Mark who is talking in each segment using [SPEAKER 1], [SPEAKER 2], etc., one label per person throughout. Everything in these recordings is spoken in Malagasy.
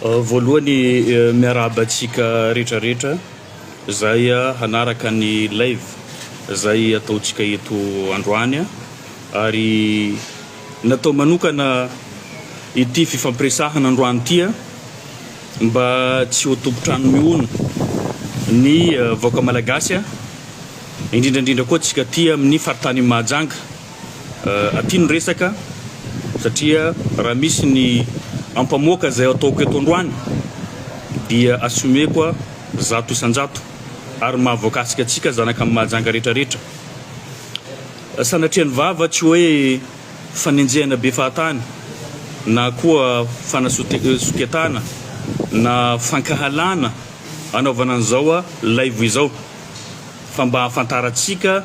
[SPEAKER 1] Voalohany miarahaba antsika rehetra rehetra zay hanaraka ny live zay ataontsika eto androany ary natao manokana ity fifampiresahana androany ity mba tsy ho tompon-trano mihono ny vahoaka malagasy indrindra indrindra koa antsika aty amin'ny faritany Mahajanga. aty ny resaka satria raha misy ny ampamoaka izay ataoko eto androany dia assumeko zato isan-jato ary maha voakasika antsika zanaka amin'i Mahajanga rehetra rehetra. Sanatrian'ny vava tsy hoe fanenjehana be fahatany na koa fanasoketana na fankahalana anaovana an'izao laivo izao fa mba hahafantarantsika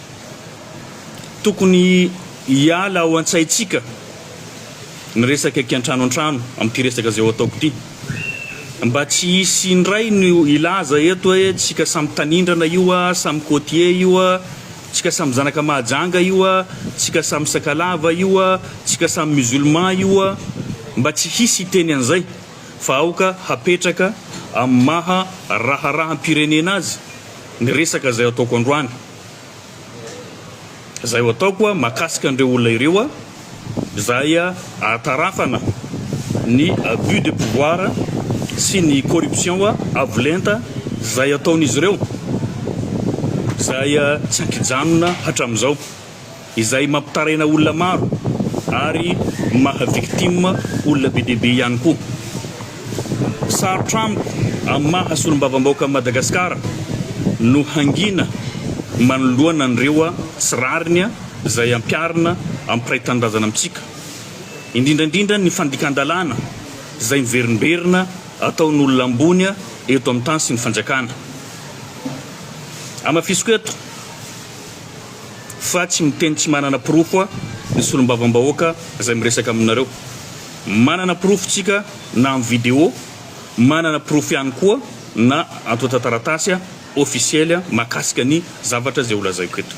[SPEAKER 1] Tokony hiala ao an-tsaintsika ny resaka kiantrano antrano amin'ity resaka izay ho ataoko ity. Mba tsy hisy indray ny hilaza eto hoe tsika samy tanindrana io a, samy côtier io a, tsika samy zanaka Mahajanga io a, tsika samy Sakalava io a, tsika samy musulman io a. Mba tsy hisy hiteny an'izay fa aoka hapetraka amin'ny maha raharaham-pirenena azy ny resaka izay ataoko androany. Izay ho ataoko a mahakasika an'ireo olona ireo a, izay ahatarafana ny abus de pouvoir sy ny corruption avo lenta izay ataon'izy ireo, izay tsy an-kijanona hatramin'izao. izay mampitaraina olona maro ary maha victime olona be dia be ihany koa. Sarotra amiko amin'ny maha solombavambahoaka an'i Madagasikara no hangina manoloana an'ireo tsy rariny izay ampiharina ampiray tanindrazana amintsika, indrindra indrindra ny fandikan-dalàna izay miverimberina ataon'olona ambony eto amin'ny tany sy ny fanjakana. Hamafisiko eto. Fa tsy miteny tsy manana porofo a ny solombavambahoaka zay miresaka aminareo. Manana porofo tsika na am video, manana porofo ihany koa na antotan-taratasy a ofisiely a makasika ny zavatra zay ho lazaiko eto.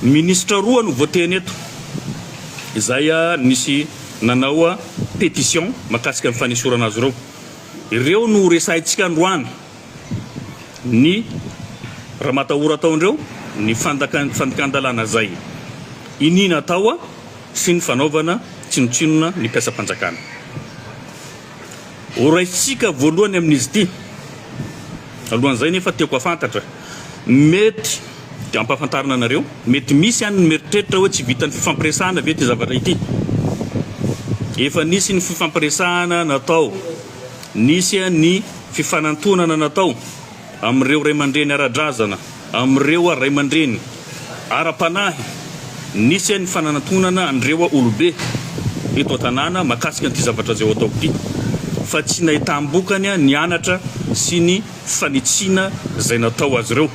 [SPEAKER 1] Ministra roa no voateny eto zay a nisy nanao a petition makasika ny fanesorana azy ireo. Ireo no ho resahintsika androany. ny ramatahora tao ndreo ny fandikan-dalàna zay iniana tao sy ny fanaovana tsinotsinona ny mpiasam-panjakana. Horaisintsika voalohany amin'izy ity. Alohan'izay nefa tiako hafantatra, mety dia ampahafantarina anareo, mety misy any ny mieritreritra hoe tsy vitan'ny fifampiresahana ve ity zavatra ity? Efa nisy ny fifampiresahana natao. Nisy ny fifanantonana natao amin'ireo ray aman-dreny ara-drazana, amin'ireo ray aman-dreny ara-panahy, nisy ny fanantonana an'ireo olobe eto an-tanàna mahakasika an'ity zavatra izay ho ataoko ity, fa tsy nahitam-bokany ny anatra sy ny fanitsiana izay natao azy ireo,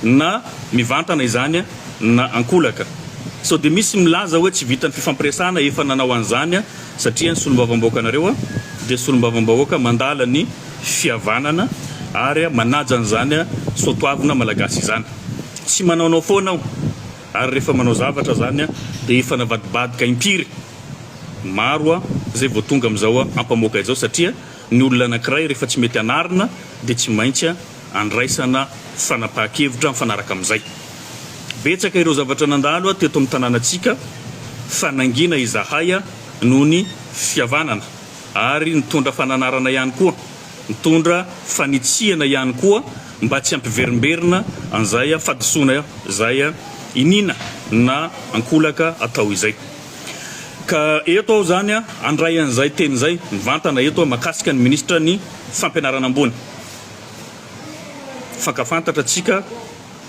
[SPEAKER 1] na mivantana izany na ankolaka. Sao dia misy milaza hoe tsy vitan'ny fifampiresahana, efa nanao an'izany Satria ny solombavambahoakanareo dia solombavambahoaka mandala ny fihavanana ary manaja an'izany soatoavina malagasy izany. Tsy manaonao foana aho ary rehefa manao zavatra izany dia efa navadibadika impiry maro izay vao tonga amin'izao ampamoaka izao satria ny olona anankiray rehefa tsy mety anarina dia tsy maintsy andraisana fanapahan-kevitra mifanaraka amin'izay. Betsaka ireo zavatra nandalo teto amin'ny tanànantsika fa nangina izahay noho ny fihavanana ary nitondra fananarana ihany koa, nitondra fanitsiana ihany koa mba tsy hampiverimberina an'izay fahadisoana izay iniana na ankolaka atao izay. Ka eto aho izany handray an'izay teny izay mivantana eto mahakasika ny Minisitra ny Fampianarana Ambony. Fankafantatra antsika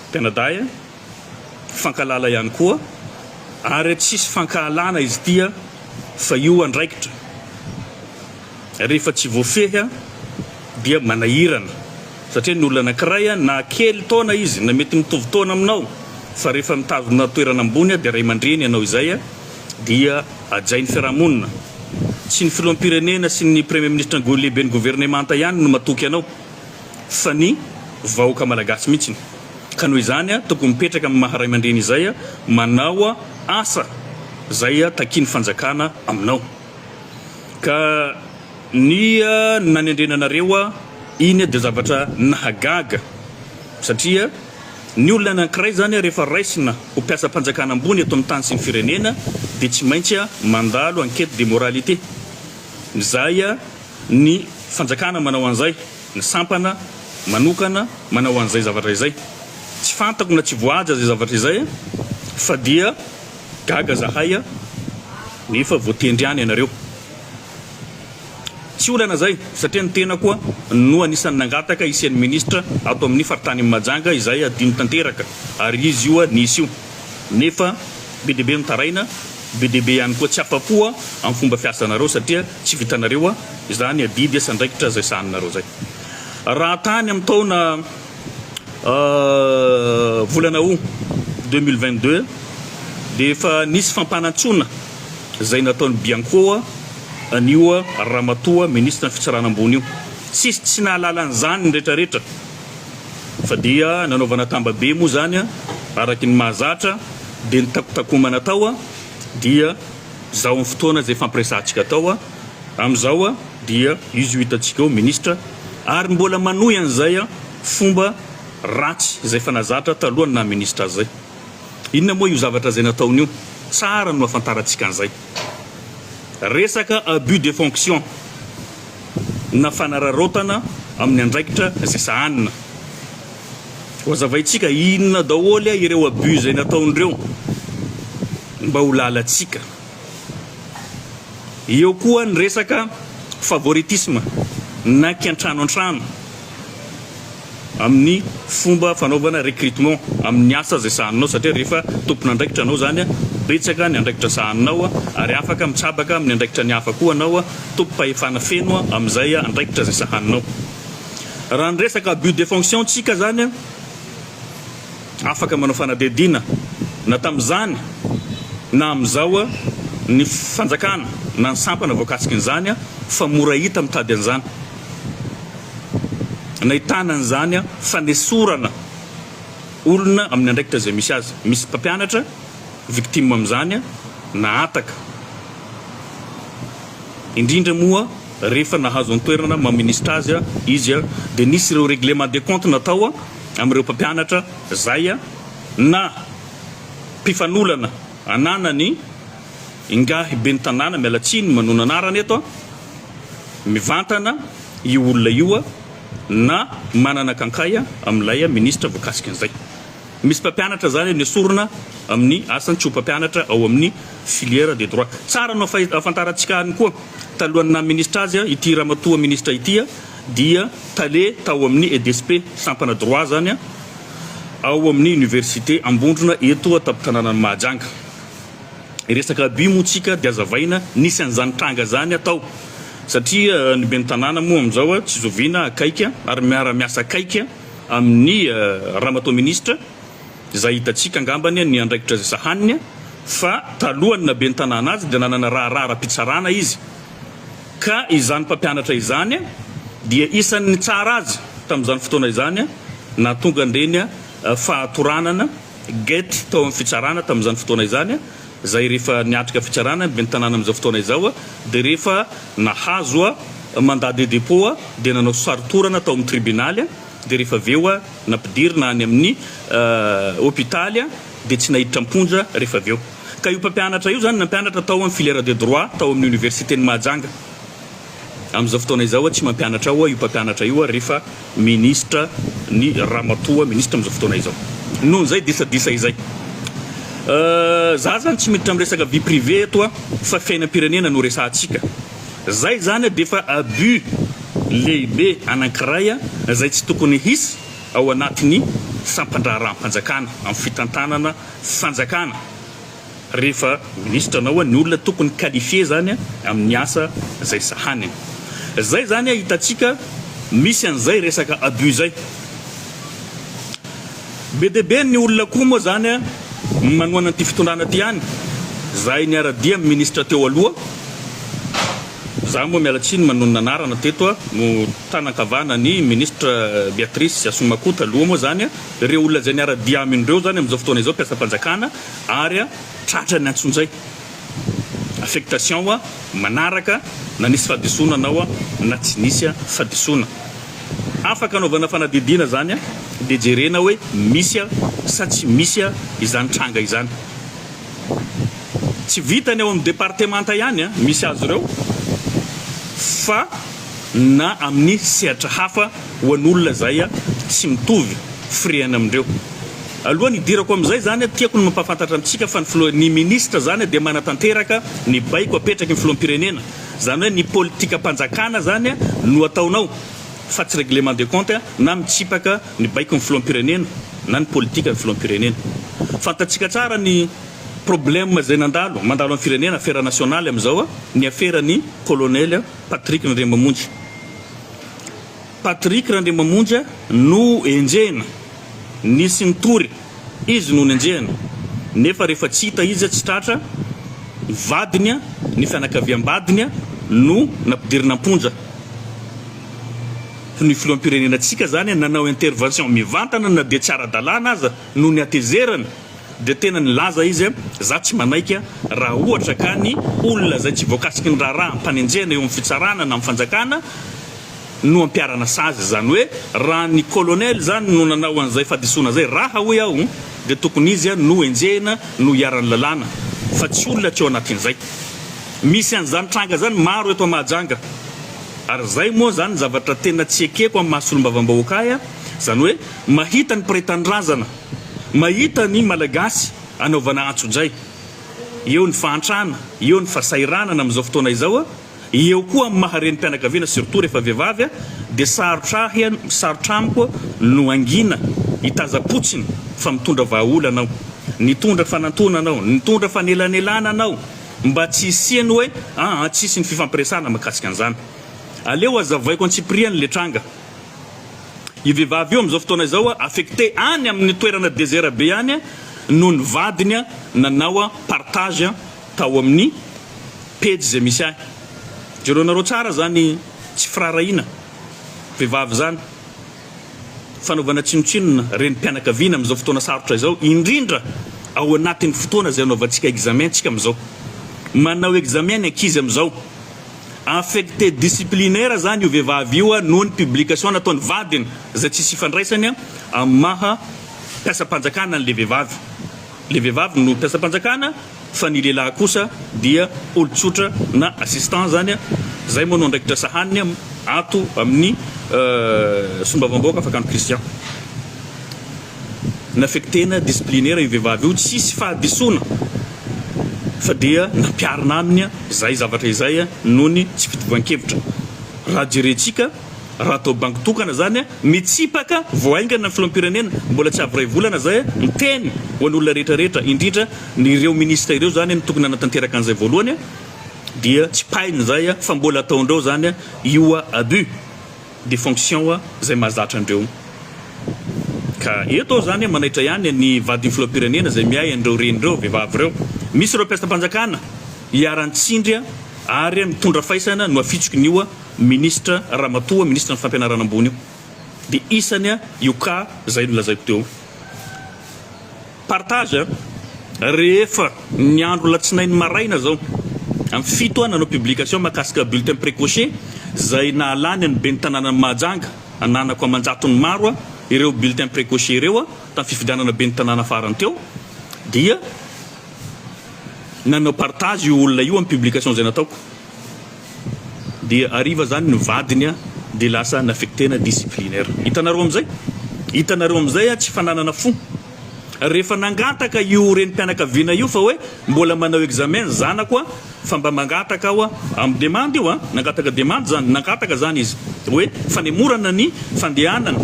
[SPEAKER 1] mpianadahy a! Fankahalala ihany koa ary tsisy fankahalana izy ity a! Fa io andraikitra rehefa tsy voafehy a! Dia manahirana satria ny olona anankiray a! Na kely taona izy na mety mitovy taona aminao fa rehefa mitazona toerana ambony a! Dia ray aman-dreny ianao izay a! dia hajain'ny fiarahamonina. Tsy ny filoham-pirenena sy ny Premier Ministra Ngoy lehiben'ny governemanta ihany no matoky anao fa ny vahoaka malagasy mihitsiny. Ka noho izany tokony mipetraka amin'ny maha raimandreny izay manao asa izay takian'ny fanjakana aminao. Ka ny nanendrena anareo iny dia zavatra nahagaga satria. Ny olona anankiray izany ary efa raisina ho mpiasam-panjakana ambony eto amin'ny tany sy ny firenena dia tsy maintsy mandalo enquête de moralité. Izay ny fanjakana manao an'izay, ny sampana manokana manao an'izay zavatra izay. Tsy fantako na tsy voahaja izay zavatra izay fa dia gaga zahay nefa voatendry ihany ianareo. Tsy olana izay satria ny tena koa no anisan'ny nangataka hisian'ny minisitra ato amin'ny faritanin'i Mahajanga izay adino tanteraka ary izy io nisy io nefa be dia be nitaraina, be dia be ihany koa tsy afa-po amin'ny fomba fiasanareo satria tsy vitanareo izany adidy sy andraikitra izay sahaninareo izay. Raha tany amin'ny taona. volana Aout deux mille vingt deux dia efa nisy fampanantsoana izay nataon'i Bianco an'io ramatoa minisitra ny fitsarana ambony io. Tsisy tsy nahalala an'izany ny retraretra fa dia nanaovana tambabe moa izany araky ny mahazatra dia ny takotakomana tao dia izao amin'ny fotoana izay fampiresahantsika tao. Amin'izao dia izy io hitantsika eo ministra ary mbola manohy an'izay fomba ratsy izay efa nazatra talohan'ny naha ministra azy izay. Inona moa io zavatra izay nataony io? Tsara no hafantarantsika an'izay. Resaka abus de fonction na fanararaotana amin'ny andraikitra izay sahanina. Hohazavaintsika inona daholo ireo abus izay nataony ireo mba ho lalantsika. Eo koa ny resaka favoritisme na kiantrano antrano amin'ny fomba fanaovana recrutement amin'ny asa izay sahaninao satria rehefa tompon'andraikitra anao izany, betsaka ny andraikitra sahaninao ary afaka mitsabaka amin'ny andraikitra ny hafa koa anao, tompom-pahefana feno amin'izay andraikitra izay sahaninao. Raha ny resaka abus de fonction ntsika izany, Afaka manao fanadihadiana na tamin'izany na amin'izao ny fanjakana na ny sampana voakasikin'izany fa mora hita mitady an'izany nahitana an'izany fanesorana olona amin'ny andraikitra izay misy azy. Misy mpampianatra victime amin'izany nahataka indrindra moa rehefa nahazo an-toerana maha ministra azy izy dia nisy ireo règlement de compte natao amin'ireo mpampianatra izay na mpifanolana ananany ingahy ben'ny tanàna miala tsiny manona anarana eto mivantana io olona io na manana kankay amin'ilay ministra voakasika an'izay misy mpampianatra izany eo nesorina amin'ny asany tsy ho mpampianatra ao amin'ny filière de droit tsara no ahafantarantsika any koa talohan'ny naha ministra azy ity ramatoa ministra ity dia tale tao amin'ny EDSP, sampana droit izany an, ao amin'ny Université Ambondrona eto an-tampon-tanànan'i Mahajanga. Resaka abus moa tsika dia azavaina, nisy an'izany tranga izany an tao, satria ny ben'ny tanàna moa amin'izao an, tsy zoviana akaiky an, ary miara-miasa akaiky an amin'ny Ramatoa Minisitra, izay hitantsika angambany an ny andraikitra izay sahaniny an, fa talohan'ny naha ben'ny tanàna azy dia nanana raharaha ara-pitsarana izy, Ka izany mpampianatra izany dia isan'ny nitsara azy tamin'izany fotoana izany nahatonga an'ireny fahatoranana, gety, tao amin'ny fitsarana tamin'izany fotoana izany, izay rehefa niatrika fitsarana ny ben'ny tanàna amin'izao fotoana izao dia rehefa nahazo mandat de dépôt dia nanao sarotorana tao amin'ny tribunaly dia rehefa avy eo nampidirina any amin'ny hopitaly dia tsy naiditra am-ponja rehefa avy eo. Ka io mpampianatra io izany nampianatra tao amin'ny filière de droit tao amin'ny Oniversiten'i Mahajanga. Amin'izao fotoana izao ho'a tsy mampianatra ao ho'a io mpampianatra io ho'a rehefa Minisitra ny Ramatoa Minisitra amin'izao fotoana izao. Noho izay disadisa izay. Za zany tsy miditra amin'ny resaka vie privée eto a fa fiainam-pirenena no resahantsika. Zay zany dia efa abus lehibe anankiray izay tsy tokony hisy ao anatin'ny sampan-draharaham-panjakana amin'ny fitantanana fanjakana rehefa ministra na oa ny olona tokony qualifier zany amin'ny asa zay sahaniny zay zany hitantsika misy an'izay resaka abus zay be dia be ny olona koa moa zany manohana an'ity fitondrana ty any zahay niara-dia amin'ny ministra teo aloha za moa miala tsiny manonona anarana teto no tanan-kavana ny ministra Beatrice Asomakoa taloha moa zany Ireo olona izay niara-dia aminy ireo izany amin'izao fotoana izao mpiasam-panjakana ary tratra ny antsonjay, affectation, manaraka na nisy fahadisoana anao na tsy nisy fahadisoana. Afaka anaovana fanadihadiana izany dia jerena hoe misy sa tsy misy izany tranga izany. Tsy vitan'ny ao amin'ny departemanta ihany misy azy ireo fa na amin'ny sehatra hafa ho an'olona izay tsy mitovy firehana amindreo. Alohan'ny hidirako amin'izay izany, tiako ny mampahafantatra amintsika fa ny Filoha, ny Minisitra izany dia manatanteraka ny baiko apetraky ny Filoham-pirenena. Izany hoe ny politikam-panjakana izany no ataonao fa tsy règlement de compte na mitsipaka ny baikon'ny Filoham-pirenena na ny politikan'ny Filoham-pirenena. Fantatsika tsara ny problème izay nandalo, mandalo amin'ny firenena, afera nationale amin'izao, ny aferan'ny Colonel. Patrick Randriamamonja Patrick Randriamamonja no enjehina, nisy nitory izy no nenjehina nefa rehefa tsy hita izy tsy tratra, ny vadiny, ny fianakaviam-badiny no nampidirina am-ponja. Ny filoham-pirenenantsika izany nanao intervention mivantana na dia tsy ara-dalàna aza no ny hatezerany. Dia tena nilaza izy hoe, Izaho tsy manaiky an, raha ohatra ka ny olona izay tsy voakasiky ny raharaha am-panenjehana eo amin'ny fitsarana na amin'ny fanjakana no ampiharana sazy. Izany hoe, raha ny kolonely izany no nanao an'izay fahadisoana izay, raha, hoy aho, dia tokony izy no enjehina, no iharan'ny lalàna, fa tsy olona tsy ao anatin'izay. Misy an'izany tranga izany maro eto Mahajanga. Ary izay moa izany ny zavatra tena tsy ekeko amin'ny maha-solombavambahoaka ahy an, izany hoe, mahita ny mpiray tanindrazana, Mahita ny Malagasy anaovana antsojay, eo ny fahantrana, eo ny fasahiranana amin'izao fotoana izao, eo koa amin'ny maha renim-pianakaviana surtout rehefa vehivavy dia sarotra ahy, sarotra amiko no hangina, hitaza-potsiny fa mitondra vahaolana aho, nitondra fanantonana aho, nitondra fanelanelanana aho mba tsy hisian'ny hoe an-tsisy ny fifampiresahana mahakasika an'izany. Aleo hazavaiko antsipiriany ilay tranga. Io vehivavy io amin'izao fotoana izao affecté any amin'ny toerana desert be any noho ny vadiny nanao partage tao amin'ny pejy izay misy ahy. Jereo nareo tsara izany tsy firaharahiana vehivavy izany, fanaovana tsinotsinona renim-pianakaviana amin'izao fotoana sarotra izao indrindra ao anatin'ny fotoana izay anaovantsika examen-tsika amin'izao. Manao examen ny ankizy amin'izao. Affecté disciplinaire zany io vehivavy io noho ny publication nataon'ny vadiny izay tsisy ifandraisany amin'ny maha mpiasam-panjakana an'ilay vehivavy. Ilay vehivavy no mpiasam-panjakana fa ny lehilahy kosa dia olon-tsotra na assistant zany izay moa no andraikitra sahaniny ato amin'ny Solombavambahoaka Fakano Christian. Nafektena disciplinaire io vehivavy io, tsisy fahadisoana fa dia nampiarina aminy izay zavatra izay noho ny tsy fitovian-kevitra. Raha jerentsika, raha atao bango tokana izany, mitsipaka vao haingana ny filoham-pirenena, mbola tsy avy iray volana izay, miteny ho an'olona rehetra rehetra, indrindra ny ireo ministra ireo izany no tokony hanatanteraka an'izay voalohany, dia tsipahiny izay fa mbola ataon-dreo izany io abus. de fonction wa zay mahazatra andreo ka eto aho zany manaitra ihany ny vadin'ny filoham-pirenena zay miahy an'ireo reny ireo vehivavy ireo misy ireo mpiasam-panjakana iharan-tsindry ary mitondra faisana no afitsoky ny io ministra ramatoa ministra ny fampianarana ambony io de isany io cas zay nolazaiko teo Partage a! Rehefa ny andro alatsinainy maraina zao am fito a nanao publication mahakasika bulletin precoce zay nahalany an'ny ben'ny tanànan'i Mahajanga ananako aman-jatony maro a ireo bulletin precoce ireo a tam fifidianana ben'ny tanàna farany teo dia nanao partage io olona io am publication zay nataoko. Dia hariva zany ny vadiny a dia lasa nafektena disciplinaire. Hitanareo amizay? Hitanareo amizay a tsy fananana fo. Rehefa nangataka io renim-pianakaviana io fa hoe mbola manao examen ny zanako a fa mba mangataka aho a, amin'ny demande io a, nangataka demande zany, nangataka zany izy hoe fanemorana ny fandehanana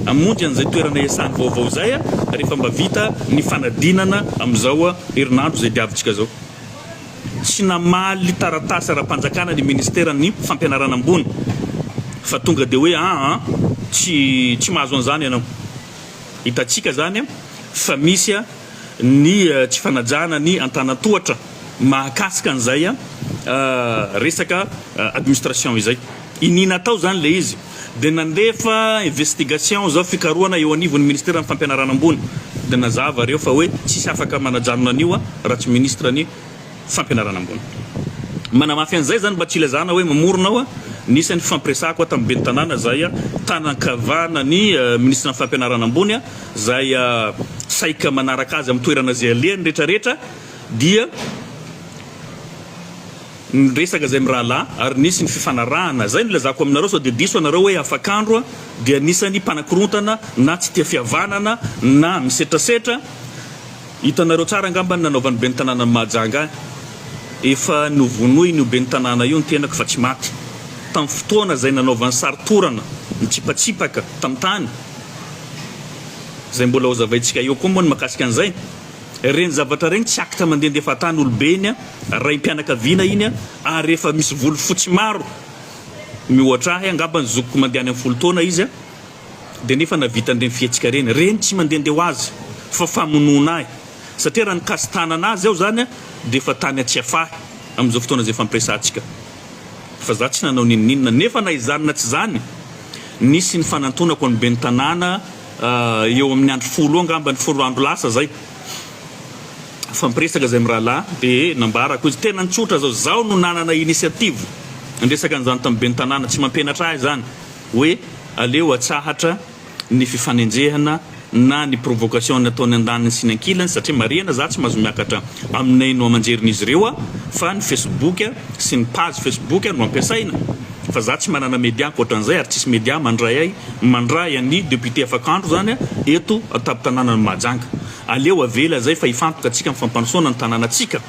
[SPEAKER 1] hamonjy an'izay toerana iasany vaovao izay a rehefa mba vita ny fanadinana amizao a herinandro izay diavintsika zao. tsy namaly taratasy ara-panjakana ny Ministeran'ny Fampianarana Ambony fa tonga dia hoe aa tsy tsy mahazo an'izany ianao. Hitantsika izany fa misy ny tsy fanajana ny antanan-tohatra mahakasika an'izay resaka administration izay. Iniana tao izany ilay izy. Dia nandefa investigation zao fikarohana eo anivon'ny ministeran'ny fampianarana ambony. Dia nazava ireo fa hoe tsisy afaka manajanona an'io a raha tsy ministra ny fampianarana ambony. Manamafy an'izay izany mba tsy ilazana hoe mamorona aho a. Nisy ny fifampiresahako a tamin'ny ben'ny tanàna izay a tanan-kavana ny ministran'ny fampianarana ambony a izay saika manaraka azy amin'ny toerana izay alehany retraretra dia Niresaka izay mirahalahy ary nisy ny fifanarahana. Izay no ilazako aminareo sao dia diso ianareo hoe afakandro dia anisan'ny mpanakorontana na tsy tia fihavanana na misetrasetra. Hitanareo tsara angamba ny nanaovan'ny ben'ny tanànan'i Mahajanga ahy. Efa novonoin'io ben'ny tanàna io ny tenako fa tsy maty. Tamin'ny fotoana izay nanaovany sary torana mitsipatsipaka tamin'ny tany. Izay mbola hozavaintsika eo koa moa ny mahakasika an'izay. Reny zavatra reny tsy acte mandendefa tany olobe iny raim-pianakaviana iny ary efa misy volo fotsy maro miohatra ahy angamba ny zokiko mandeha any am folo taona izy dia nefa navitany reny fihetsika reny reny tsy mandende ho azy fa famonoana ahy satria raha nikasi-tanana azy aho zany dia efa tany an-tsiafahy amin'izao fotoana izay fampiresahantsika fa za tsy nanao n'inon'inona nefa na izany na tsy izany nisy ny fanantonako an'ny ben'ny tanàna eo amin'ny andro folo eo angamba ny folo andro lasa zay nifampiresaka zay mirahalahy de nambarako izy tena nitsotra zao zaho no nanana initiative niresaka an'izany tamin'ny ben'ny tanàna tsy mampianatra ahy zany hoe aleo atsahatra ny fifanenjehana na ny provocation ny ataony andaniny sy ny ankilany satria marihana za tsy mahazo miakatra amin'ny haino aman-jerin'izy ireo fa ny facebook sy ny page facebook no ampiasaina Fa za tsy manana media ankoatran'izay ary tsisy media mandray ahy mandray an'i député Afakandro zany a eto an-tampon-tananan'i Mahajanga. Aleo avela zay fa hifantoka antsika amin'ny fampandrosoana ny tanànantsika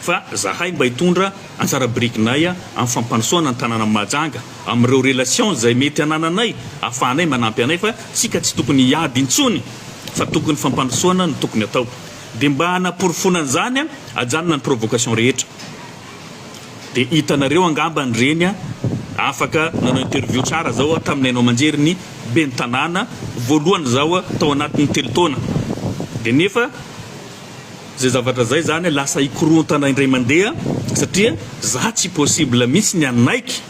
[SPEAKER 1] fa zahay mba hitondra anjara birikinay amin'ny fampandrosoana ny tanànan'i Mahajanga amin'ireo relations izay mety hanananay ahafahanay manampy anay fa tsika tsy tokony hiady intsony fa tokony fampandrosoana no tokony atao. Dia mba hanaporofoana an'izany a ajanona ny provocation rehetra. Dia hitanareo angamba ny reny a! Afaka nanao interview tsara zao aho tamin'ny haino aman-jery ny ben'ny tanàna voalohany zaho tao anatin'ny telo taona. Dia nefa zay zavatra zay zany lasa hikorontana indray mandeha satria za tsy possible mihitsy ny hanaiky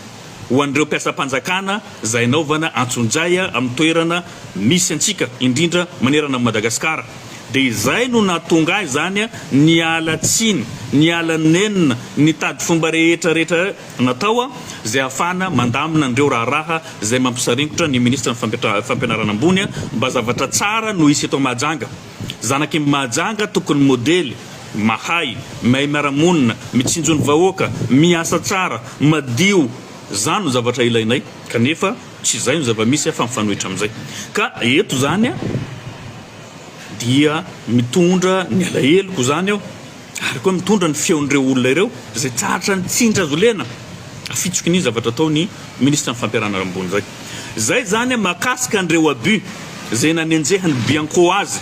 [SPEAKER 1] ho an'ireo mpiasam-panjakana izay hanaovana antsonjay amin'ny toerana misy antsika, indrindra manerana an'i Madagasikara. Dia izay no nahatonga ahy izany niala tsiny, niala nenina, nitady fomba rehetra rehetra natao izay hahafahana mandamina an'ireo raharaha izay mampisaringotra ny Minisitry ny Fampianarana Ambony mba zavatra tsara no hisy eto Mahajanga. Zanak' i Mahajanga tokony modely, mahay, mihay miara-monina, mitsinjo ny vahoaka, miasa tsara, madio, zany no zavatra ilainay kanefa tsy izay no zava-misy fa mifanohitra amin'izay ka eto izany dia mitondra ny alaheloko izany aho. ary koa mitondra ny feon'ireo olona ireo izay tsy ahatra ny tsindry azo lena afitsoky ny zavatra ataon'ny ministra ny fampiharana rambony izay izay izany mahakasika an'ireo abus izay nanenjehan'ny bianco azy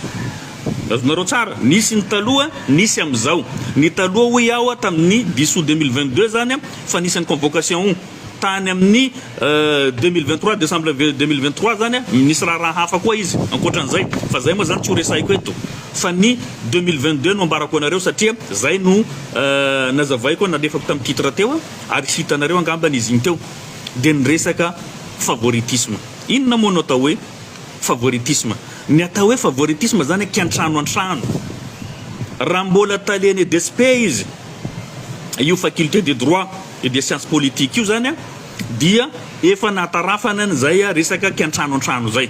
[SPEAKER 1] azonareo tsara nisy ny taloha nisy amin'izao ny taloha hoy aho tamin'ny bisou 2022 izany fa nisy ny convocation Tany amin'ny deux mille vingt trois, décembre deux mille vingt trois zany a, nisy raharaha hafa koa izy ankoatran'izay fa zay moa zany tsy ho resahiko eto fa ny deux mille vingt deux no ambarako anareo satria zay no nazavaiko nalefako tamin'ny titre teo ary hitanareo angambany izy iny teo dia ny resaka favoritisme. Inona moa no atao hoe favoritisme? Ny atao hoe favoritisme zany aky antrano antrano raha mbola talen'ny EDSP izy io faculté de droit, Io dia siansa politika io izany dia efa nahatarafana an'izay resaka kiantrano antrano izay.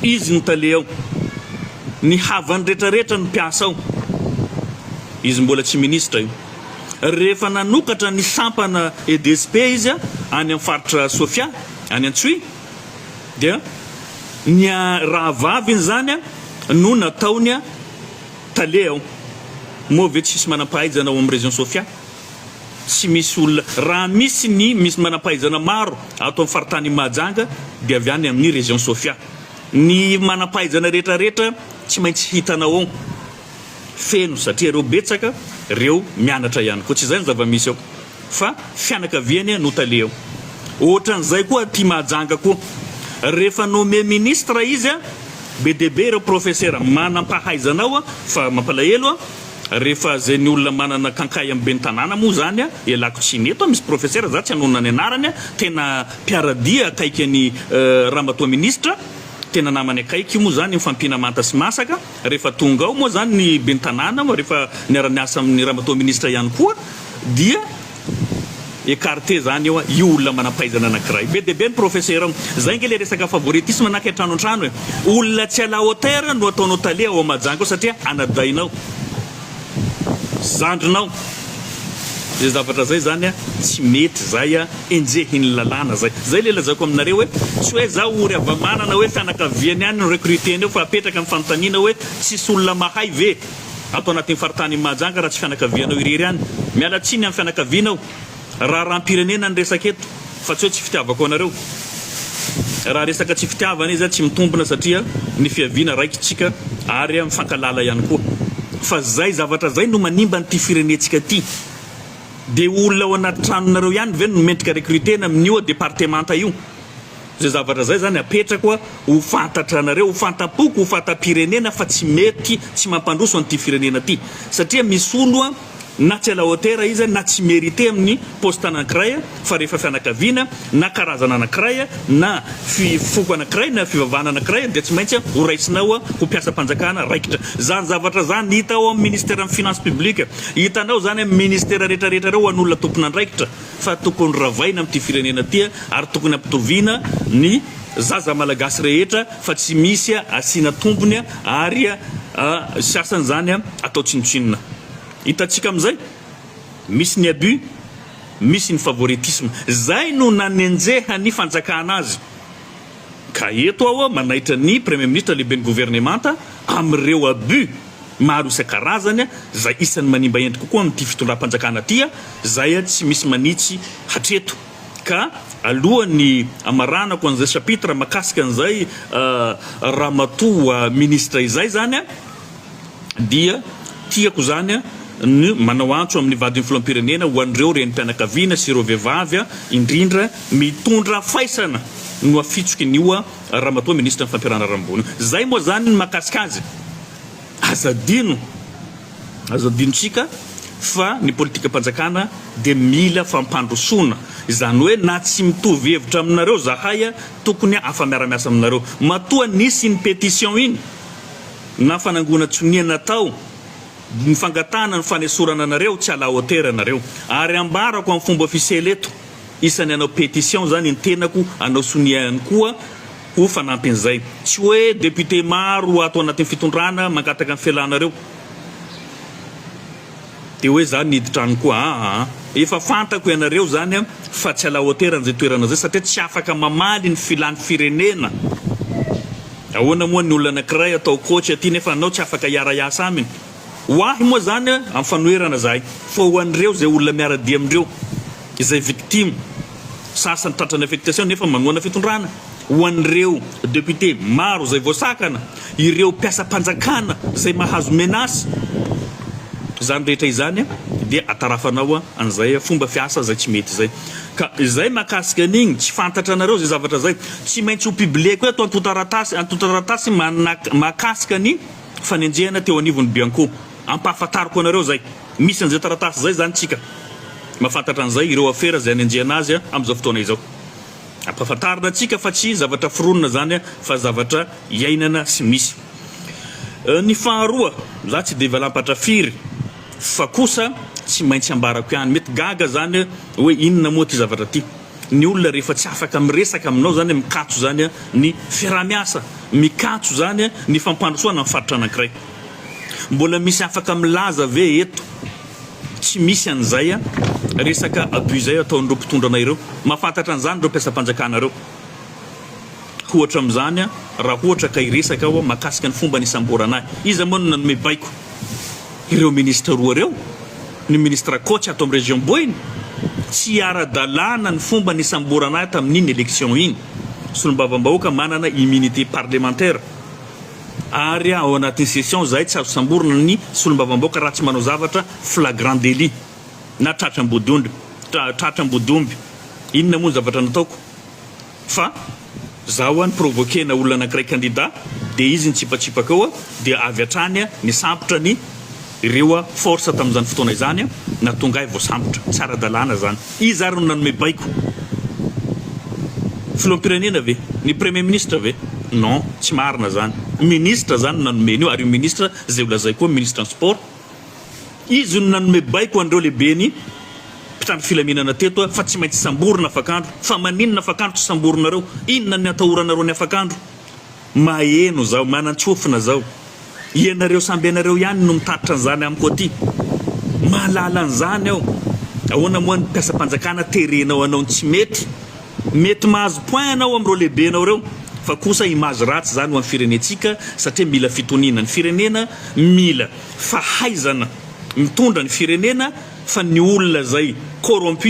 [SPEAKER 1] Izy ny tale ao. Ny havany rehetra rehetra ny mpiasa ao. Izy mbola tsy minisitra io. Rehefa nanokatra ny sampana EDSP izy any amin'ny faritra Sofia, any Antsohihy, dia ny rahavaviny izany no nataony Tale aho. Moa ve tsisy manampahaizana ao amin'ny région Sofia? Tsy misy olona, raha misy ny misy manampahaizana maro ato amin'ny faritanin'i Mahajanga dia avy any amin'ny région Sofia. Ny manampahaizana rehetra rehetra tsy maintsy hitanao ao feno satria ireo betsaka reo mianatra ihany koa. Tsy izay ny zava-misy ao. Fa fianakaviany no tale ao. Ohatran'izay koa aty Mahajanga koa. Rehefa nommé ministre izy, be dia be ireo profesera manam-pahaizana ao fa mampalahelo rehefa izay ny olona manana kankay amin'ny ben'ny tanàna moa izany ialako tsiny. Eto misy profesera, za tsy hanonona ny anarany, tena mpiara-dia akaiky an'i Ramatoa Ministra, tena namany akaiky moa izany mifampiana manta sy masaka. Rehefa tonga ao moa izany ny ben'ny tanàna, rehefa niara-niasa amin'ny ramatoa minisitra ihany koa, dia écarté izany eo io olona manam-pahaizana anankiray. Be dia be ny professeur ao. Izay ange ilay resaka favoritisme na kay trano an-trano e. Olona tsy à la hauteur no ataonao tale ao Mahajanga ao satria anadahinao. zandrinao zay zavatra zay zany a tsy mety zay a enjehin'ny lalàna zay zay le lazaiko aminareo hoe tsy hoe za ory havamanana hoe fianakaviany any no recruter an'io fa apetraka ny fanontaniana hoe tsisy olona mahay ve ato anatin'ny faritanin'i Mahajanga raha tsy fianakavianao irery any miala tsiny amin'ny fianakavianao Raharaham-pirenena ny resaka eto fa tsy hoe tsy fitiavako anareo. Raha resaka tsy fitiavana izy tsy mitombina satria ny fiaviana raikitsika ary mifankalala ihany koa. Fa zay zavatra zay no manimba an'ity firenetsika ty. Dia olona ao anaty tranonareo ihany ve no mendrika recrutena amin'io departemanta io? Zay zavatra zay zany apetrako ho fantatranareo, ho fantam-poko, ho fantam-pirenena fa tsy mety, tsy mampandroso an'ity firenena ty. Satria misolo na tsy à la hauteur izy na tsy merite amin'ny poste anankiray fa rehefa fianakaviana na karazana anankiray na fi foko anankiray na fivavahana anankiray dia tsy maintsy ho raisinao ho mpiasam-panjakana raikitra. Izany zavatra izany hita ao amin'ny Ministeran'ny Finances Publiques. Hitanao izany amin'ny Ministera rehetra rehetra ireo ho an'olona tompon'andraikitra. fa tokony ravaina amin'ity firenena ity ary tokony ampitoviana ny zaza malagasy rehetra fa tsy misy asiana tombony ary sasany zany atao tsinontsinona. Hitantsika amin'izay misy ny abus, misy ny favoritisme. Izay no nanenjehan'ny fanjakana azy. Ka eto aho manaitra ny Praimeministra Lehiben'ny Governemanta amin'ireo abus maro isan-karazany izay isan'ny manimba endrika kokoa amin'ity fitondram-panjakana ity izay tsy misy manitsy hatreto. Ka alohan'ny hamaranako an'izay chapitre makasika an'izay Ramatoa Ministra izay izany, dia tiako izany ny manao antso amin'ny vadin'ny filoham-pirenena ho an'ireo renim-pianakaviana sy ireo vehivavy indrindra mitondra faisana no afitsoky ny oa ramatoa minisitry ny fampiharana rambony zay moa zany ny mahakasika azy aza adino aza adinontsika fa ny politikam-panjakana dia mila fampandrosoana izany hoe na tsy mitovy hevitra aminareo zahay tokony afa-miara-miasa aminareo matoa nisy iny pétition iny na fanangonana tsonia natao ny fangatahana ny fanesorana anareo tsy à la hauteur anareo ary ambarako amin'ny fomba ofisiely eto isany hanao pétition izany ny tenako hanao sonia ihany koa ho fanampin'izay tsy hoe député maro ato anatin'ny fitondrana mangataka ny fialanareo Dia hoe za nihidy trano koa aa. Efa fantako ianareo zany an fa tsy à la hauteur an'izay toerana zay satria tsy afaka mamaly ny filan'ny firenena. Ahoana moa ny olona anakiray atao coach aty nefa anao tsy afaka hiara hiasa aminy. Ho ahy moa zany an amin'ny fanoherana zahay fa ho an'ireo izay olona miara dia amindreo izay victime sasany tratran'ny affectation nefa manohana fitondrana. Ho an'ireo député maro izay voasakana, ireo mpiasam-panjakana izay mahazo menace, izany rehetra izany dia atarafanao an'izay fomba fiasa izay tsy mety izay. Ka izay mahakasika an'igny tsy fantatra anareo izay zavatra izay, tsy maintsy ho publieko eto antontaratasy antontaratasy manak mahakasika ny fanenjehana teo anivon'ny Bianco. Ampahafantariko anareo izay. Misy an'izay taratasy izay izany tsika. Mahafantatra an'izay ireo afera izay anenjehana azy amin'izao fotoana izao. Ampahafantarina antsika fa tsy zavatra foronina izany fa zavatra iainana sy misy. Ny faharoa, za tsy dia valampatra firy fa kosa tsy maintsy ambarako ihany. Mety gaga izany hoe inona moa ity zavatra ity. Ny olona rehefa tsy afaka miresaka aminao izany, mikatso izany ny fiaraha-miasa, mikatso izany ny fampandrosoana ny faritra anankiray. Mbola misy afaka milaza ve eto? Tsy misy an'izay an! Resaka abus izay ataon'ireo mpitondra anay ireo. Mahafantatra an'izany ireo mpiasam-panjakana ireo. Ohatra amin'izany an, raha ohatra ka hiresaka aho mahakasika ny fomba nisamborana ahy. Iza moa no nanome baiko? Ireo ministra roa ireo? Ny ministra coach ato amin'ny région Boina? Tsy ara-dalàna ny fomba nisamborana ahy tamin'iny élection iny. Solombavambahoaka manana immunité parlementaire. Ary ao anatin'ny session izahay tsy azo samborina ny solombavambaoka raha tsy manao zavatra flagrant délit na tratra ambodiondry tra tratra ambodiomby. Inona moa ny zavatra nataoko fa za hoa ni-provoquer-na olona anankiray candidat dia izy nitsipatsipaka eo dia avy hatrany nisambotra ny Ireo force tamin'izany fotoana izany na tonga ahy voasambotra. Tsy ara-dalàna izany. Iza ary no nanome baiko? Filoham-pirenena ve? Ny Premier Ministre ve? Non, tsy marina izany. Ministre izany no nanome an'io ary io Ministre izay ho lazaiko eo, Ministran'ny Sport, izy no nanome baiko an'ireo lehiben'ny mpitandro filaminana teto fa tsy maintsy samborina afak'andro. Fa maninona afak'andro tsy samborinareo? Inona ny atahoranareo ny afak'andro? Maheno zao, manantsofina zao. Ianareo samby ianareo ihany no mitatitra an'izany amiko aty. Mahalala an'izany aho. Ahoana moa ny mpiasam-panjakana terenao hanao ny tsy mety? Mety mahazo point anao amin'ireo lehibenao ireo fa kosa image ratsy izany ho an'ny firenentsika satria mila fitoniana ny firenena, mila fahaizana mitondra ny firenena fa ny olona izay corrompu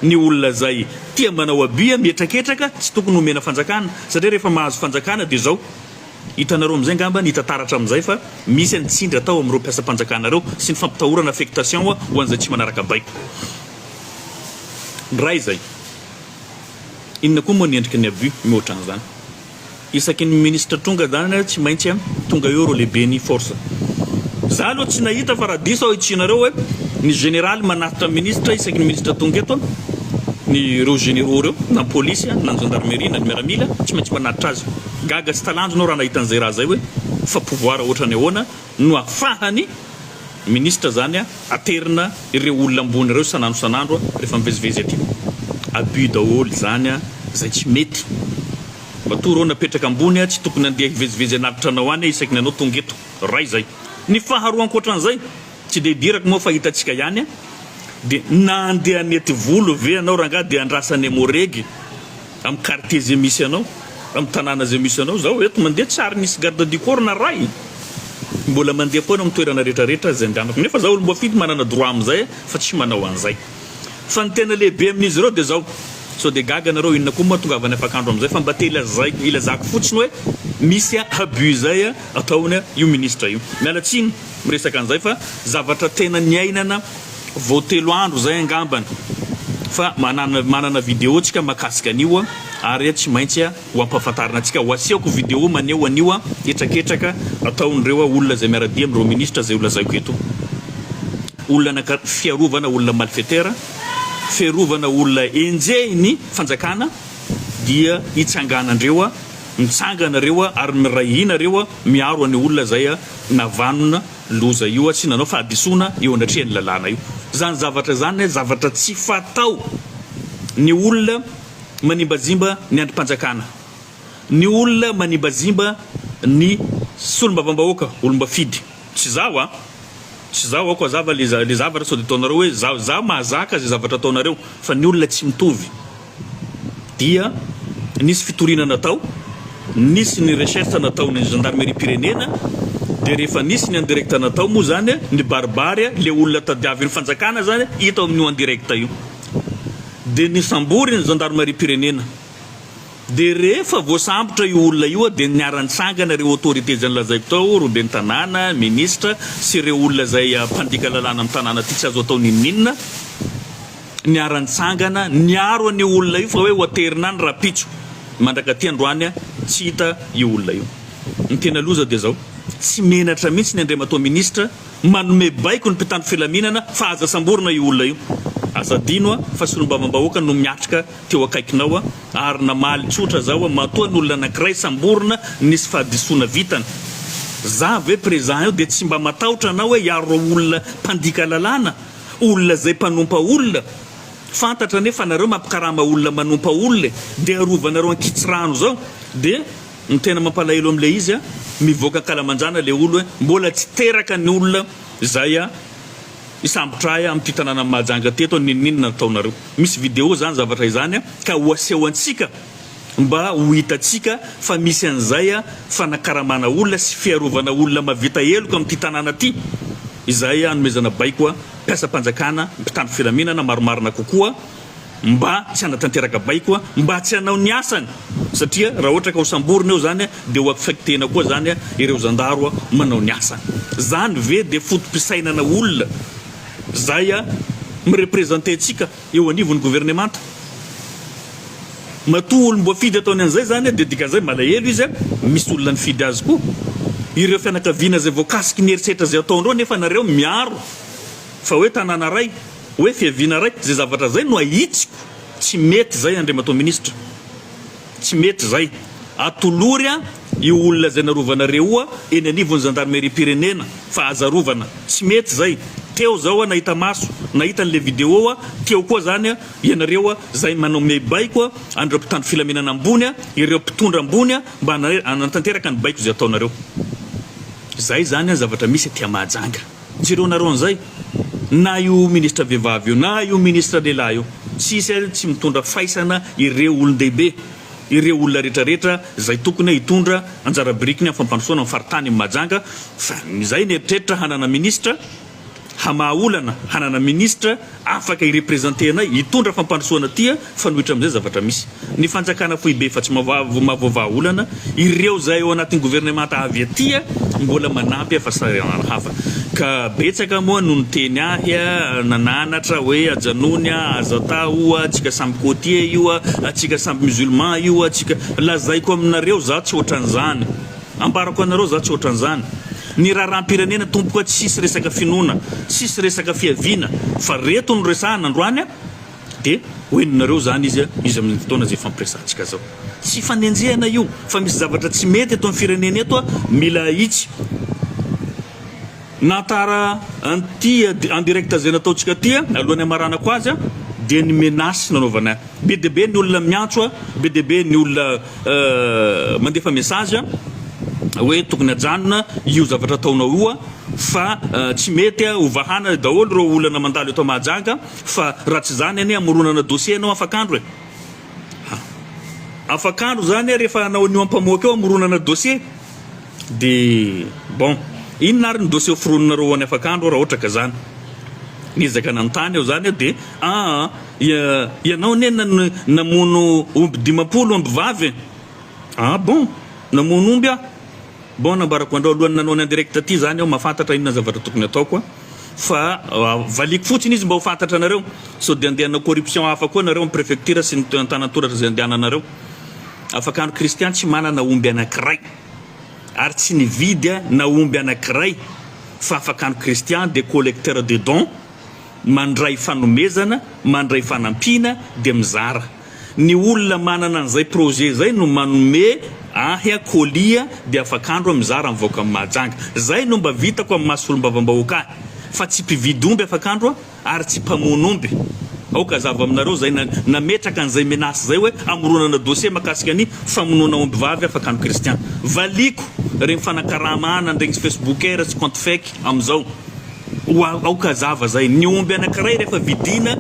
[SPEAKER 1] Ny olona zay tia manao abus mihetraketraka tsy tokony homena fanjakana satria rehefa mahazo fanjakana de zao. Hitanareo amizay ngamba ny hita taratra amizay fa misy ny tsindry atao amireo mpiasam-panjakana reo sy ny fampitahorana affectation ho anzay tsy manaraka baiko. Ny ray zay. Inona koa moa ny endriky ny abus mihoatranzany. isaky ny ministra tonga zany tsy maintsy an tonga eo reo lehibe ny force za aloha tsy nahita fa raha diso aho itsianareo hoe ny generaly manatitra ministra isaky ny ministra tonga eto an ny reo generaux reo na ny polisy an na ny gendarmerie na ny miaramila tsy maintsy manatitra azy gaga sy talanjona aho raha nahita an'izay raha zay hoe fa pouvoir ohatrany ahoana no afahan'ny Ministra zany aterina ireo olona ambony ireo isan'andro isan'andro rehefa mivezivezy aty. Abus daholo izany izay tsy mety. Matoa ireo napetraka ambony tsy tokony handeha hivezivezy anaty tranao any isaky ny anao tonga eto. Iray izay. Ny faharoa ankoatran'izay, tsy dia idirako moa fa hitantsika ihany, dia na handeha hanety volo ve ianao rangahy dia andrasan'i Emmo Reg? Amin'ny quartier izay misy anao, amin'ny tanàna izay misy anao, izao eto mandeha tsy ary nisy garde du corps na iray, mbola mandeha foana amin'ny toerana rehetra rehetra izay andehanako, nefa izaho olom-boafidy manana droit amin'izay fa tsy manao an'izay. Fa ny tena lehibe amin'izy ireo dia izao, sao dia gaga ianareo inona koa moa hahatongavany afak'andro amin'izay fa mba te ilazaiko, ilazako fotsiny hoe misy abus izay ataony io ministre io. Miala tsiny miresaka an'izay fa zavatra tena niainana. Vao telo andro zay angambany fa manana manana video tsika makasika an'io ary tsy maintsy ho ampahafantarina antsika ho asehoko video maneho an'io hetraketraka ataon'ireo olona zay miara-dia amin'ireo ministra zay ho lazaiko eto olona anaka fiarovana olona malfetera fiarovana olona enjehin'ny fanjakana dia hitsanganandreo mitsangana reo ary miray hina reo miaro an'io olona zay navanona Loza io tsy nanao fahadisoana eo anatrehan'ny lalàna io. Izany zavatra izany zavatra tsy fatao. Ny olona manimbazimba ny andrim-panjakana, ny olona manimbazimba ny solombavambahoaka, olom-bafidy. Tsy izaho a! Tsy izaho aoka hazava ilay zavatra sao dia ataonareo hoe izaho. Izaho mahazaka izay zavatra ataonareo fa ny olona tsy mitovy. dia nisy fitoriana natao, nisy ny recherche nataon'ny gendarmerie-pirenena, dia rehefa nisy ny en direct natao moa izany, nibaribary ilay olona tadiavin'ny fanjakana izany hita ao amin'io en direct io. Dia nisambory ny gendarmerie-pirenena. Dia rehefa voasambotra io olona io dia niara-nitsangana ireo autorités izay nolazaiko tao, roben'ny tanàna, ministra sy ireo olona izay mpandika lalàna amin'ny tanàna ity, tsy azo atao n'inon'inona. niara-nitsangana niaro an'io olona io fa hoe ho aterina any rahampitso. Mandrakaty androany tsy hita io olona io. Ny tena loza dia izao, tsy menatra mihitsy ny Andriamatoa Minisitra manome baiko ny mpitandro filaminana fa aza samborina io olona io. Aza adino fa solombavambahoaka no miatrika teo akaikinao ary namaly tsotra zao matoa ny olona anankiray samborina nisy fahadisoana vitany. Za ve prezan eo dia tsy mba matahotra anao hoe hiaro ireo olona mpandika lalàna? olona zay mpanompa olona fantatra anie fa nareo mampikarama olona manompa olona e de arovanareo ankitsirano zao de ny tena mampalahelo amle izy a mivoaka ankalamanjana le olo e mbola tsy teraka ny olona zay a hisambotra ahy amty tananany mahajanga teto a ninoninona nataonareo misy video zany zavatra izany a ka ho aseho antsika mba ho hitantsika fa misy an'izay fanakaramana olona sy fiarovana olona mahavita heloka amin'ity tanàna ity izay anomezana baiko mpiasam-panjakana, mpitandro filaminana marimarina kokoa mba tsy hanatanteraka baiko mba tsy hanao ny asany satria raha ohatra ka ho samborina eo zany dia ho affectena koa zany ireo zandaro manao ny asany. Zany ve dia foto-pisainana olona zay mirepresenter antsika? eo anivon'ny governemanta. Matoa olom-boafidy ataony an'izay izany dia dikan'izay malahelo izy, misy olona nifidy azy koa. Ireo fianakaviana izay voakasiky ny herisetra izay ataondreo nefa nareo miaro fa hoe tanàna iray, hoe fiaviana iray, izay zavatra izay no ahitsiko tsy mety izay Andriamatoa Minisitra. Tsy mety izay. Atolory an io olona izay narovanareo eny anivon'ny zandarimeriam-pirenena fa aza arovana. Tsy mety izay. Teo zao an nahita maso, nahita an'ilay video an, teo koa zany an ianareo an izay manao miaibaiko an an'ireo mpitandro filaminana ambony an, ireo mpitondra ambony an mba hanatanteraka ny baiko izay ataonareo. Izay izany an zavatra misy aty a Mahajanga. Jereo nareo an'izay, na io ministra vehivavy io, na io ministra lehilahy io, tsisy ary tsy mitondra faisana ireo olon-dehibe, ireo olona rehetra rehetra izay tokony hoe hitondra anjara birikiny amin'ny fampandrosoana ny faritany Mahajanga, fa izay mieritreritra hanana ministra, hamaha olana hanana ministra, Afaka irepresenter anay, hitondra fampandrosoana tia fanohitra amizay zavatra misy. Ny fanjakana foibe efa tsy mavoavaha olana, ireo zay ao anatin'ny governemanta avy aty mbola manampy fa sahiranana hafa. Ka betsaka moa no niteny ahy, nananatra hoe ajanony a, aza atao io a, atsika samy cotier io a, atsika samby musulman io a, atsika. Lazaiko aminareo za tsy otran'zany. Ambarako anareo za tsy ohatran'izany. Ny raharaham-pirenena tompoka tsisy resaka finoana, tsisy resaka fiaviana fa reto no resahana androany a! de ho henonareo zany izy izy amin'iny fotoana zay ifampiresahantsika zao. Tsy ifanenjehana io fa misy zavatra tsy mety eto amin'ny firenena eto a! mila ahitsy. Na tara an'ity en direct izay nataontsika ity alohan'ny hamaranako azy dia ny menace nanaovana be dia be ny olona miantso be dia be ny olona mandefa message hoe tokony hajanona io zavatra ataonao io fa tsy mety ho vahana daholo ireo olana mandalo eto Mahajanga fa raha tsy izany anie hamoronana dossier ianao afak'andro e! Afak'andro izany rehefa hanao an'io ampamoaka io hamoronana dossier. Dia bon, inona ary ny dossier hoforoninareo ho an'i Afakandro raha ohatra ka izany? Niezaka nanontany aho izany aho dia, aa, ianao anie nano, namono omby dimampolo, omby vavy e! Ah bon, namono omby aho? Bon, nambarako andrao alohan'ny nanao ny en direct ity izany aho, mahafantatra inona ny zavatra tokony hataoko an! fa valiako fotsiny izy mba ho fantatra anareo, sao dia handeha hanao corruption hafa koa nareo amin'ny prefecture sy ny antanantoratra izay andehananareo. Afakandro Christian tsy manana omby anankiray. ary tsy nividy na omby anankiray fa afaka ny Christian dia collecteur de dons, mandray fanomezana, mandray fanampiana dia mizara. Ny olona manana an'izay projet izay no manome ahy colis dia afak'andro aho mizara mivaoka Mahajanga. Izay no mba vitako amin'ny maha solombavam-bahoaka ahy fa tsy mpividy omby afak'andro aho. ary tsy mpamono omby. Aoka hazava aminareo izay nametraka an'izay menace izay hoe hamoronana dossier mahakasika ny famonoana ombivavy afaka ny kristian. Valiako ireny fanakarama ana an'ireny facebookers sy compte fake amin'izao. Ho aoka hazava izay, ny omby anankiray rehefa vidiana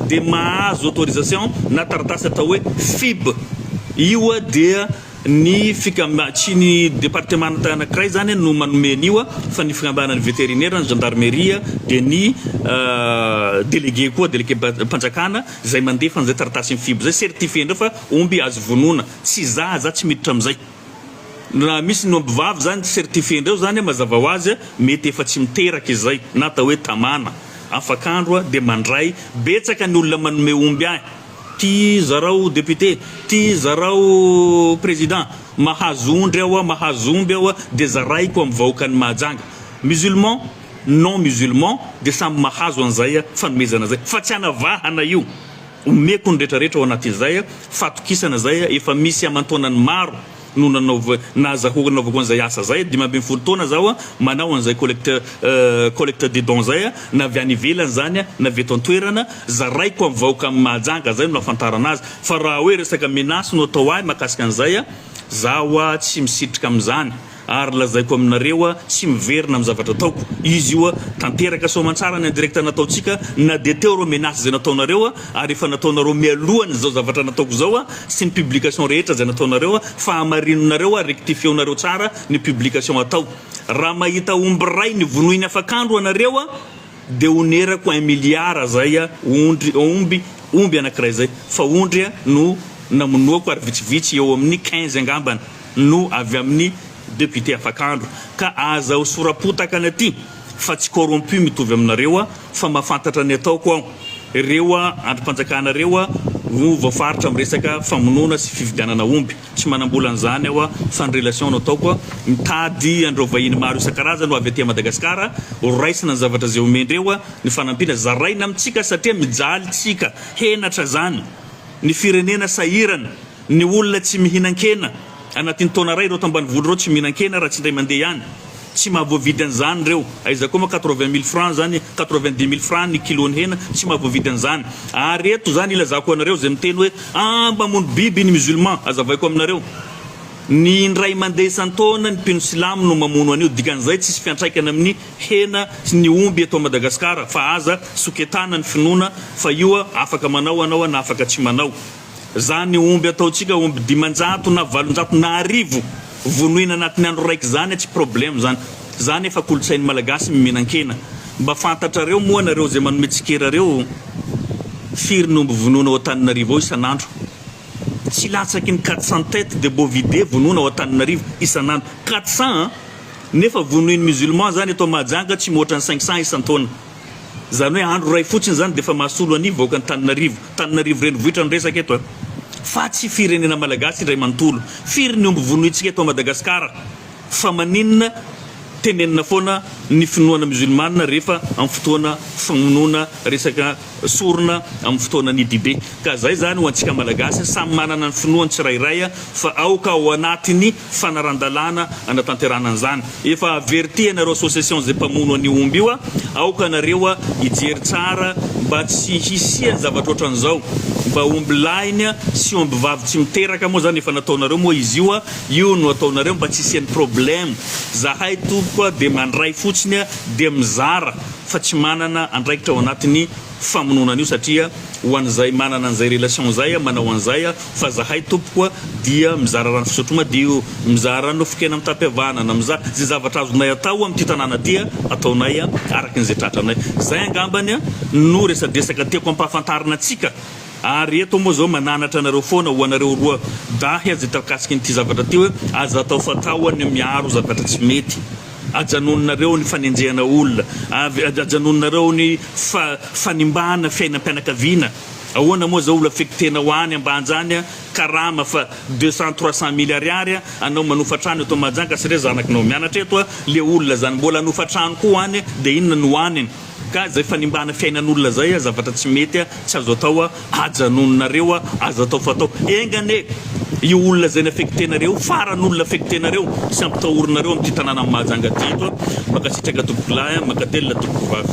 [SPEAKER 1] dia mahazo autorisation na taratasy atao hoe fib. Io dia Ny fikam, tsy ny departemanta anankiray izany no manome an'io fa ny fikambanan'ny veterinera, ny zandarmeria dia ny delege koa, delegem-panjakana izay mandefa an'izay taratasin'ny fibo izay, certifier indray fa omby azo vonoina, tsy za, za tsy miditra amin'izay. Raha misy ny ombivavy izany certifier indray izany mazava ho azy mety efa tsy miteraka izay na atao hoe tamana, afak'andro dia mandray, betsaka ny olona manome omby ahy. Ty zarao député, ty zarao président, mahazo ondry aho, mahazo omby aho dia zaraiko amin'ny vahoakan'i Mahajanga. Musulman, non musulman dia samy mahazo an'izay fanomezana izay. Fa tsy hanavahana io. Omeko ny retraretra ao anatin'izay fatokisana izay efa misy aman-taonany maro no nanaova, nazahoako nanaovako an'izay asa izay, dimy ambin'ny folo taona zaho manao an'izay collecte collecte de dons izay, na avy any ivelany izany na avy eto an-toerana, zaraiko amin'ny vahoaka amin'i Mahajanga, izay no nahafantarana azy, fa raha hoe resaka menace no atao ahy mahakasika an'izay, zaho tsy misitrika amin'izany, ary lazaiko aminareo tsy miverina amin'ny zavatra ataoko, izy io tanteraka soamantsara ny indirecte nataontsika, na dia teo ireo menace izay nataonareo, ary efa nataonareo mialoha an'izao zavatra nataoko izao sy ny publication rehetra izay nataonareo fa hamarininareo ary rectifieonareo tsara ny publication atao raha mahita omby ray nivonoiny afak'andro anareo dia honerako un milliard zay ondry omby omby anakiray izay fa ondry no namonoako ary vitsivitsy eo amin'ny quinze angambany no avy amin'ny député afak'andro ka aza ho sora-potaka any aty fa tsy corrompu mitovy aminareo fa mafantatra ny ataoko aho, ireo andrimpanjakana ireo no voafaritra am resaka famonoana sy fividianana omby, tsy manambola an'izany aho fa ny relation no ataoko, mitady andreo vahiny maro isan-karazany ho avy aty Madagascar, horaisina ny zavatra izay omendreo, ny fanampiana zaraina amintsika satria mijaly tsika, henatra zany, ny firenena sahirana. Ny olona tsy mihinan-kena, anatin'ny taona iray ireo tao ambanivohitra ireo tsy mihinan-kena raha tsy indray mandeha ihany. Tsy mahavoavidy an'izany ireo. Aiza koa moa quatre-vingt mille francs izany, quatre-vingt-dix mille francs ny kilon'ny hena, tsy mahavoavidy an'izany. Ary eto izany ilazako anareo izay miteny hoe aah mba mamono biby ny musulman, azavaiko aminareo, ny indray mandeha isan-taona ny mpino silamo no mamono an'io, dikan'izay tsisy fiantraikany amin'ny hena sy ny omby eto Madagasikara, fa aza soketana ny finoana fa io afaka manao anao na afaka tsy manao. Izany omby ataontsika omby dimanjato na valonjato na arivo vonoina anatin'ny andro raika izany tsy problème izany. Izany efa kolontsain'ny Malagasy ny mihinan-kena. Mba fantatrareo moa nareo izay manome tsikera ireo? Firy ny omby vonoina ao Antananarivo ao isan'andro? Tsy latsaky ny quatre cents têtes de bovidés vonoina ao Antananarivo isan'andro. Quatre cents an! Nefa vonoin'ny musulmans izany eto Mahajanga tsy mihoatra ny cinq cents isan-taona. Izany hoe andro iray fotsiny izany dia efa mahasolo an'ny vahoakan'Antananarivo, Antananarivo renivohitra no resaka eto a! Fa tsy firenena malagasy indray manontolo. Firy ny omby vonointsika eto Madagascar? Fa maninona tenenina foana ny finoana musulmane rehefa amin'ny fotoana famonoana resaka sorona amin'ny fotoanan'ny Idibe? Ka izay izany ho antsika malagasy samy manana ny finoany tsirairay fa aoka ao anatin'ny fanaran-dalàna hanatanterahana an'izany. Efa averti anareo association zay mpamono an'io omby io a, aoka anareo a hijery tsara mba tsy hisian'ny zavatra ohatran'izao, mba omby lahiny a sy omby vavy tsy miteraka moa zany efa nataonareo moa izy io a, io no ataonareo mba tsy hisian'ny problème, zahay tompoko a dia mandray fotsiny a dia mizara fa tsy manana andraikitra ao anatin'ny. famonoana an'io satria ho an'izay manana an'izay relation izay a manao an'izay a fa zahay tompoko a dia mizara rano fisotro madio mizara nofon-kena mitapy havanana miza ze zavatra azonay atao amin'ity tanàna ty a ataonay a araky ny ze tratranay zay angambany a no resadresaka tiako ampahafantarina antsika ary eto moa zao mananatra anareo foana ho anareo roa dahy a ze takasikin'ity zavatra ty hoe aza atao fatao a ny miaro zavatra tsy mety Ajanononareo ny fanenjehana olona, avy ajanononareo ny fa fanimbana fiainam-pianakaviana, ahoana moa zao olo affectenao any ambanjany a, karama fa deux cent trois cent mille ariary a, anao manofa trano eto Mahajanga sy re zanakinao mianatra eto a, le olona zany mbola hanofa trano koa any de inona no aniny? Gaz zay fanimbana fiainan'olona zay a zavatra tsy mety a tsy azo atao a ajanononareo a aza atao fatao enga anie io olona zay ny affectenareo io farany olona affectenareo tsy ampitahorinareo amty tanàna Mahajanga ty eto a mankasitraka tompokolahy a mankatelina tompokovavy.